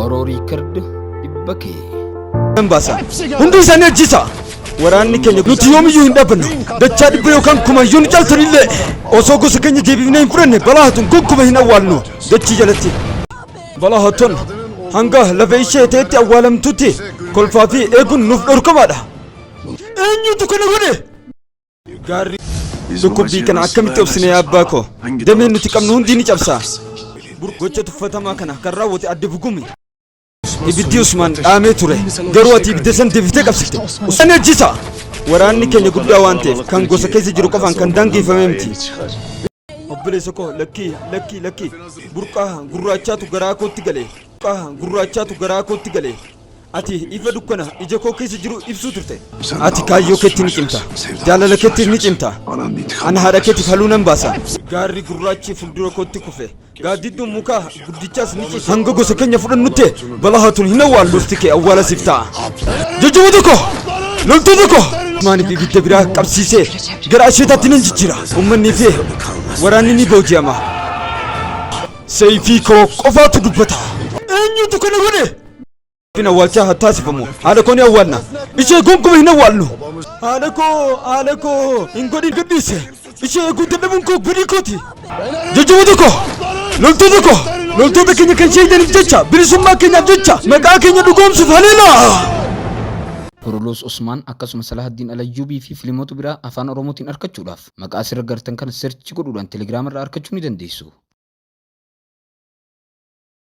Oro Record dhibba kee. Nan baasa. Hundi isaanii ajjeesa. Waraanni keenya nuti yoomiyyuu hin dhaabbannu. Dachaa dhibba yookaan kuma yoo nu caaltan illee osoo gosa keenya deebifnee hin fudhanne balaa hatun gonkumaa hin awwaallu. Dachii jalatti. Balaa hatun hanga lafa ishee ta'etti awwaalamtutti kolfaa fi eeguun nuuf dhorkamaadha. Eenyutu kana godhe? Gaarri dhukkubbii kana akkamitti obsine yaa abbaa koo? Dameen nuti qabnu hundi ni cabsa. Gocha tuffatamaa kana kan raawwate adde bugumi. Ibiddi Usmaan dhaamee ture. Garuu ati ibidda san deebitee qabsifte. Usmaan ajjisa! Waraanni keenya guddaa waan ta'eef kan gosa keessa jiru qofaan kan daangeffame miti. Obboleessa koo lakkii lakkii lakkii burqaa gurraachaatu garaa kootti gale burqaa gurraachaatu garaa kootti gale ati ifa dukkana ija koo keessa jiru ibsuu turte ati kaayyoo keetti ni cimta jaalala keetti ni cimta ana haadha keetiif haluu nan baasa gaarri gurraachi fuuldura kootti kufe Gaaddidduun mukaa guddichaas ni cite. Hanga gosa keenya fudhannutti balaa hatun hin awwaallu. Lolti kee awwaala siif ta'a. Jajjaboo tokko! Loltuu tokko! Maanii fi ibidda biraa qabsiisee gara asheetaatti nan jijjiira. Ummannii fi waraanni ni booji'ama. Seeyfii koo qofaatu dubbata. Eenyutu kana godhe? Kun awwaalchaa haa taasifamu. Haadha koo ni awwaalna. Ishee gonkumaa hin awwaalnu. Haadha koo, haadha koo, hin godhin gadhiise. Ishee eeguu dadhabuun koo badii kooti. Jajjaboota koo, loltoota koo, loltoota keenya kan shahiidaniif jecha, bilisummaa keenyaaf jecha, maqaa keenya dhugoomsuuf haleelaa! Kuruluus Usmaan akkasuma Salahaddin Alayyuubii fi filimoota biraa afaan Oromootiin arkachuudhaaf maqaa asirra gartan kana search godhuudhaan Telegram irraa arkachuu ni dandeessu.